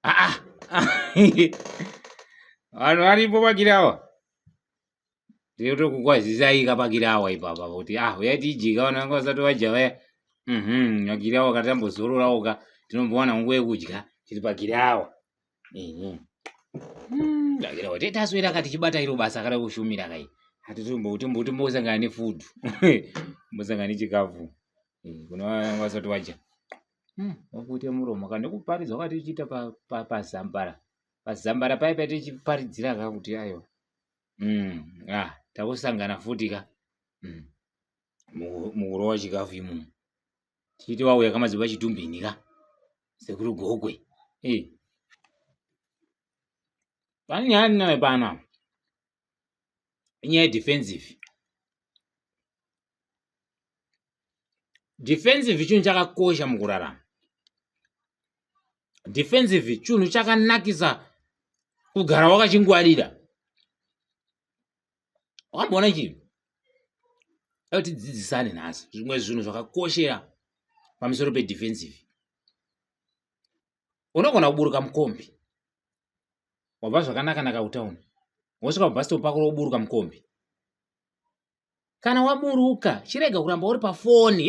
ah, ah. vanhu varipo pakiri awa tinotokukwazisai ka pakiri awa ipapa kuti ah uya tijika vanhu vanga vasati vadya vaya mhm vakiri awa katambozororawo ka tinombowana nguva yekudya tiri pakiri awa Ehe. Mm, ndakira kuti taswera kati chibata iro basa akada kushumira kai. Hatitombokuti mbuti mbosangana ne food. Mbosangana ne chikafu. Eh, kuna vaya vasati vadya. Mm, wakuita muromo kana nekuparidza wakati uchiita pa pa pazambara. Pazambara paye paye tichiparidzira ka kuti ayo. Mm, ah, takusangana futi ka. Mm. Mu- Mukurova chikafu imomo. Titi wauya kamadzibaba chitumbini ka sekuru gokwe eh. pane nyaya ndinayo pano apa inyaya yedefensive defensive chinhu chakakosha mukurarama defensive chinhu chakanakisa kugara wakachingwarira wakamboona chinhu dai tidzidzisane nhasi zvimwe zvinhu zvakakoshera pamusoro pedefensive unogona kuburuka mukombi wabva zvakanaka naka kutauni wosvika pabhasitopu pako roburuka mukombi kana waburuka chirega kuramba uri pafoni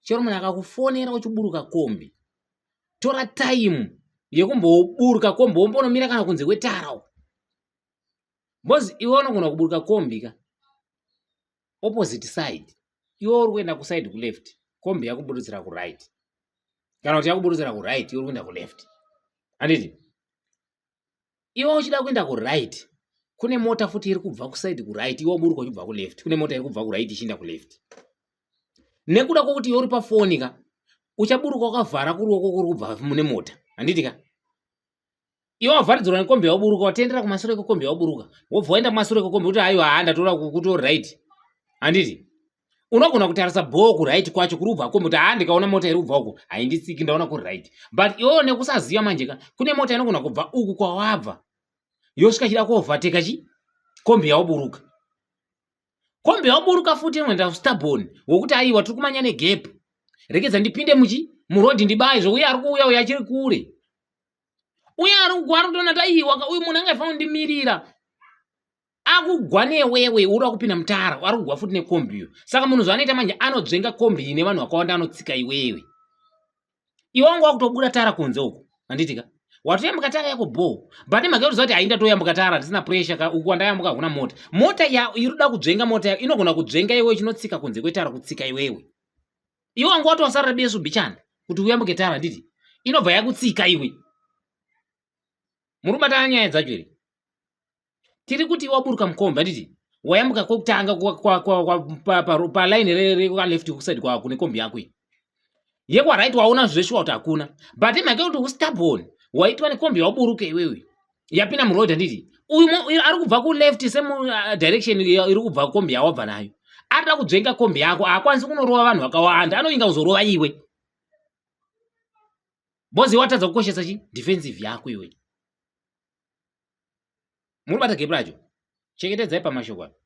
chero munhu akakufonera uchiburuka kombi tora time yekumboburuka kombi wombonomira kana kunze kwetara uko bcoz iwe unogona kuburuka kombi ka opposite side iwe uri kuenda kuside kuleft kombi yakuburutsira kuright kana kuti yakuburutsira kuright iwe uri kuenda kuleft handiti iwe uchida kuenda kuright kune mota futi iri kubva kuside kuright iwe uburuka uchibva kuleft kune mota iri kubva kuright ichienda kuleft nekuda kwokuti iwe uri pafoni ka uchaburuka wakavhara kuruoko kuri kubva mune mota handiti ka iwe wavharidzirwa nekombi yauburuka watendera kumasure kwekombi yauburuka wobva waenda kumasure kwekombi kuti aiwa haa ndatora kuto right handiti unogona kutarisa bhoo kuright kwacho kuri ubva komoti haa ndikaona mota iri ubva uko hainditsiki ndaona kuri right but iwewo nekusaziva manje ka kune mota inogona kubva uku kwawabva yosvika chida kuovateka chi kombi yaoburuka kombi yaoburuka futi inoenda kustabon wokuti aiwa tiri kumanya negap rekedza ndipinde muchi murodhi ndibaye zvokuya ari kuuya uyo achiri kure uye ari kukuari kutoona taiwa uyu munhu angaifanira kundimirira akugwa newewe uda kupinda mutara ari kugwa futi nekombi iyo saka munhu zvaanoita manje anodzvenga kombi ine vanhu vakawanda anotsika iwewe iwe wanga wakutobuda tara kunze uku handitika watoyambuka tara yako bho but imhaka yokuziva kuti hainda toyambuka tara handisina pressure ka uku wandayambuka hakuna mota mota ya irikuda kudzvenga mota yako inogona kudzvenga iwewe chinotsika kunze kwetara kutsika iwewe iwe wanga watosarira besu bichana kuti uyambuke tara handiti inobva yakutsika iwe muri kubatana nyaya dzacho here tiri kuti waburuka mukombi handiti wayambuka kwekutanga palaini raleft kusaidi kwako kune kombi yako iyi yekwarit waona zveshuwa kuti hakuna but imhake kuti ustabon waitwa nekombi yawaburuka iwewe yapinda muroad handiti uyu ari kubva kuleft same uh, direction iri kubva kombi yawabva nayo arida kudzvenga kombi yako haakwanisi kunorova vanhu vakawanda anoinga kuzorova iwe bozi watadza kukoshesa chi defensive yako iwe muribata gepi racho chengetedzai pamashoko apo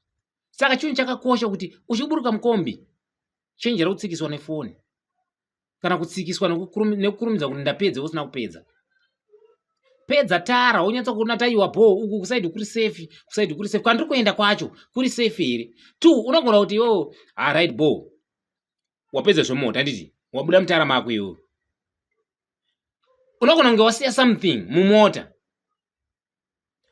saka chinhu chakakosha kuti uchiburuka mukombi chenjera kutsikiswa nefoni kana kutsikiswa nekukurumidza kuti ndapedza usina kupedza pedza tara wonyatsa kuona taiwa bho uku kusaidi kuri safe kusaidi kuri safe kwandiri kuenda kwacho kuri safe here two unogona kuti yo arit ah, bho wapedza zvemota handiti wabuda mutara mako iwe unogona kunge wasiya something mumota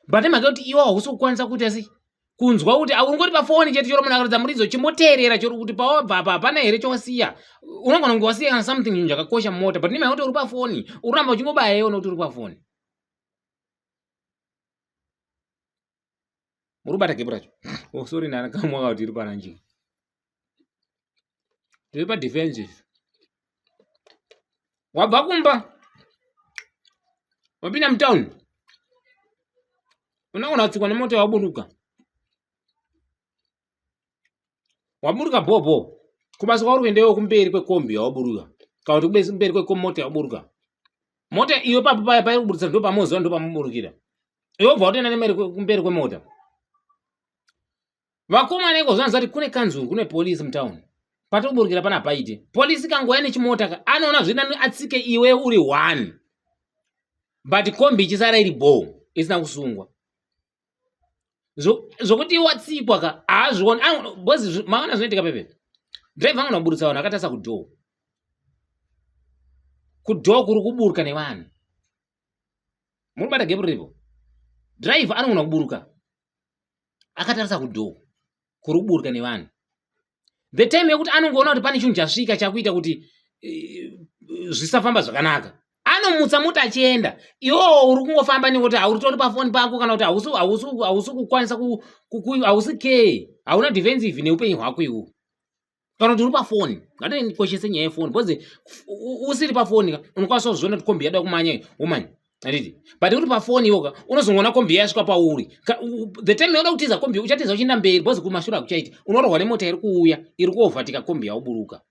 but mhaka yekuti iwe hausi kukwanisa kuita sei kunzwa kuti aungori pafoni chete choro munhu akaratidza muridzo chimboteerera choro kuti pawabva apa hapana here chawasiya unogona kunge wasiya kana something chinhu chakakosha mumota but nemhaka kuti uri pafoni uramba uchingobaya iona kuti uri pafoni muri kubata gepu racho oh sorry nana kamwa ka tiri pana njinga tiri pa defensive wabva kumba wapinda mutown unogona kutsikwa nemota waburuka waburuka bhobho kubasa kwauri kuendewo kumberi kwekombi yawaburuka kana kuti kumberi kwekomota yawaburuka mota iyo papo paya pairi kuburisa ndo pamoziva ndo pamuburukira iwe bva watoenda nemeri kumberi kwemota vakomana iko zvanzi vati kune kanzuru kune polisi mutown pati kuburukira pana paite polisi kangouya nechimota ka anoona zvina atsike iwe uri one but kombi ichisara iri bho isina kusungwa zvokuti watsikwa ka haazvioni bcoz maona zvinoitika pepe driver anogona kuburitsa vanhu akatarisa kudhoo kudhoo kuri kuburuka nevanhu muri kubata gepu riripo driver anogona kuburuka akatarisa kudhoo kuri kuburuka nevanhu the time yekuti anongoona kuti pane chinhu chasvika chakuita kuti eh, zvisafamba zvakanaka anomutsa mota achienda iwowo uri kungofamba nekuti hauritori pafoni pako kana kuti hausi kukwanisa hausi ke hauna defensive neupenyu hwako iwo kana kuti uri pafoni ngatikoshese nyaya yefoni because usiri pafoni unokwanisa kuzviona kuti kombi yada kumanya womanya handiti but uri pafoni iwoka unozongoona kombi yasvika pauri the time yauda kutiza kombi uchatiza uchienda mberi bcoz kumashure akuchaiti unorohwa nemota iri kuuya iri kuovhatika kombi yauburuka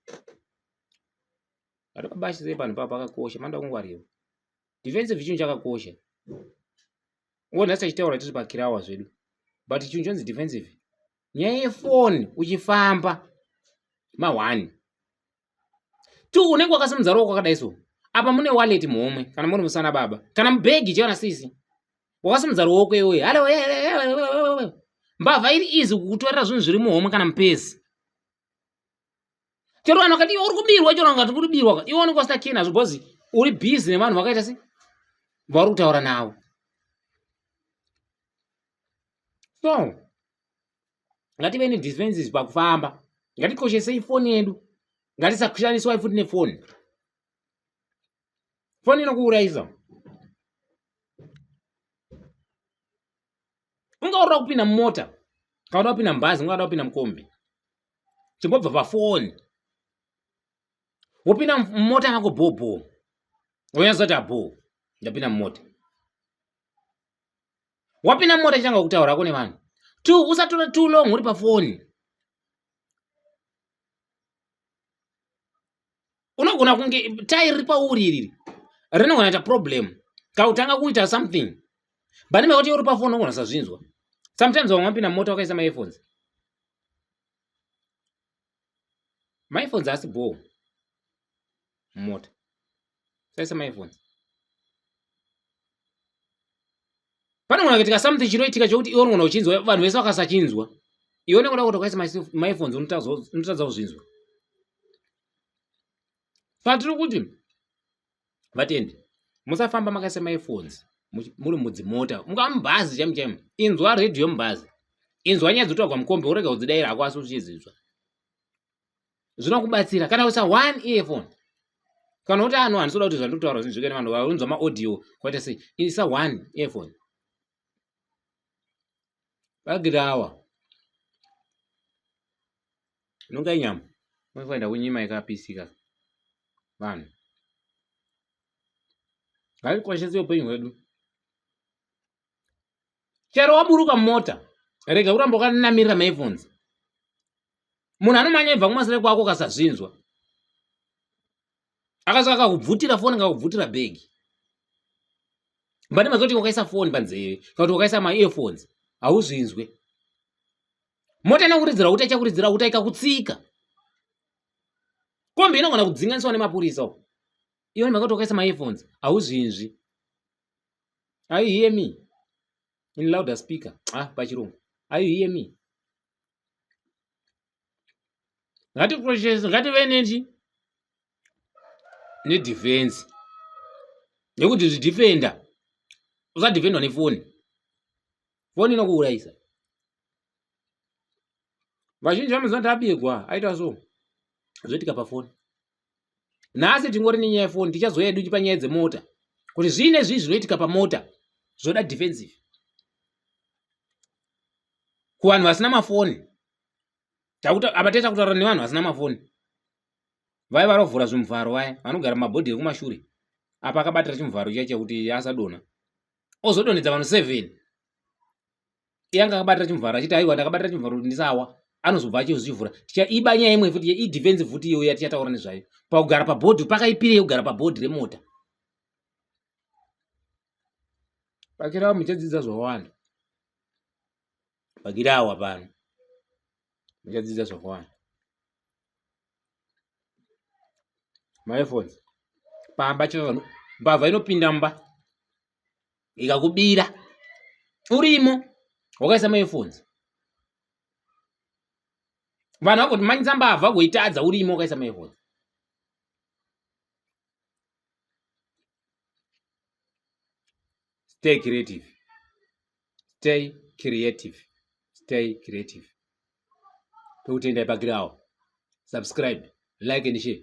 ari pabashise panhu papa akakosha manda kungwarira defensive chinhu chakakosha ngo nhasi tachitaura tiri pakirawa zvedu but chinhu chonzi defensive nyaya yefoni uchifamba ma one two unenge wakasimudza ruoko kwakadai so apa mune wallet muhomwe kana muri musana baba kana mubhegi chevana sisi wakasimudza ruoko iwoye halo eh, eh, eh, mbavha iri izi kukutorera zvinhu zviri muhomwe kana mupezi chero vanhu vakati iwe uri kubirwa chero vakati kuri birwa iwe unenge wasina key nazvo because uri busy nevanhu vakaita se vauri kutaura navo so ngative nedispenses pakufamba ngatikoshesei foni yedu ngatisashandiswai futi nefoni foni inokuurayisa ungaurira kupinda mumota kaoda kupinda mubhazi ungada kupinda mukombi chingobva pafoni wopinda mumota yako bhoo bhoo wonyazoti abhoo ndapinda mumota wapinda mumota chitanga kutaurako nevanhu t usatora too long uri pafoni unogona kunge tai riri pauri iriri rinogona ita problem kautanga kuita something bani mekuti uri pafoni unogona sazvinzwa sometimes vamwe vapinda mumota wakaisa maearphones maifonzi asi bhoo mumota saisa maifonzi panogona kuitika something chinoitika chokuti iwe unogona kuchinzwa vanhu vese vakasachinzwa iwe unenge uda kutokaisa maifonzi unotadza kuzvinzwa patiri kuti vatendi musafamba makaisa maefones muri mudzimota mungava mubhazi chaimu chaimu inzwa redhiyo mubhazi inzwa nyaya dzotagwa mukombe worega kudzidaira hako asi uchidzizwa zvinokubatsira kana usa one earphone kana uti ano handisoda kuti zvandotaura zvinzvike nevanhu vaunzwa maaudio kwaita sei isa one earphone bagiri awa inonga inyama unofanira kunyima ikapisika vanhu ngaikoshese upenyu hwedu chero waburuka mota rega kuramba ukanamirira maephones munhu anomanya ibva kumasere kwako ukasazvinzwa akasaka kakubvutira foni kakubvutira bhegi mbani mazoti wakaisa foni panzeve kana kuti wakaisa maearphones hauzvinzwe mota inokuridzira uta ichakuridzira uta ikakutsika kombi inogona kudzinganiswa nemapurisa uko iwe mhaka kuti wakaisa maearphones hauzvinzwi are you hear me in louder speaker ah pachirungu are you hear me ngatikoshese ngative nechi nedefense nekuti zvidhifenda usadhifendwa nefoni foni inokuurayisa vazhinji vanoziva kuti abirwa aita so zvoitika pafoni nhasi tingori nenyaya yefoni tichazouya yedu panyaya dzemota kuti zvii nezvii zvinoitika pamota zvoda defensive kuvanhu vasina mafoni apa taita kutaura nevanhu vasina mafoni vaya varovhura zvimuvharo vaya vanogara mumabhodhi ekumashure apa akabatira chimuvharo chiya chekuti asadona ozodonhedza vanhu seven iye anga akabatira chimuvharo achiti aiwa ndakabatira chimuvharo kuti ndisawa anozobva achizvivhura tichaiba nyaya imwe futi idefense futi iyoyo yatichataura nezvayo pakugara pabhodhi pakaipirei kugara pabhodhi remota pakirawa muchadzidza zvawanda pakirawa pano muchadzidza zvawanda maefons pamba chaivanhu mbavha inopinda mba ikakubira urimo wakaisa maearphones vanhu vakoti manyisa mbavha kuitadza urimo wakaisa maearphones stay creative stay creative stay creative tokutenda ipakirawo subscribe like and share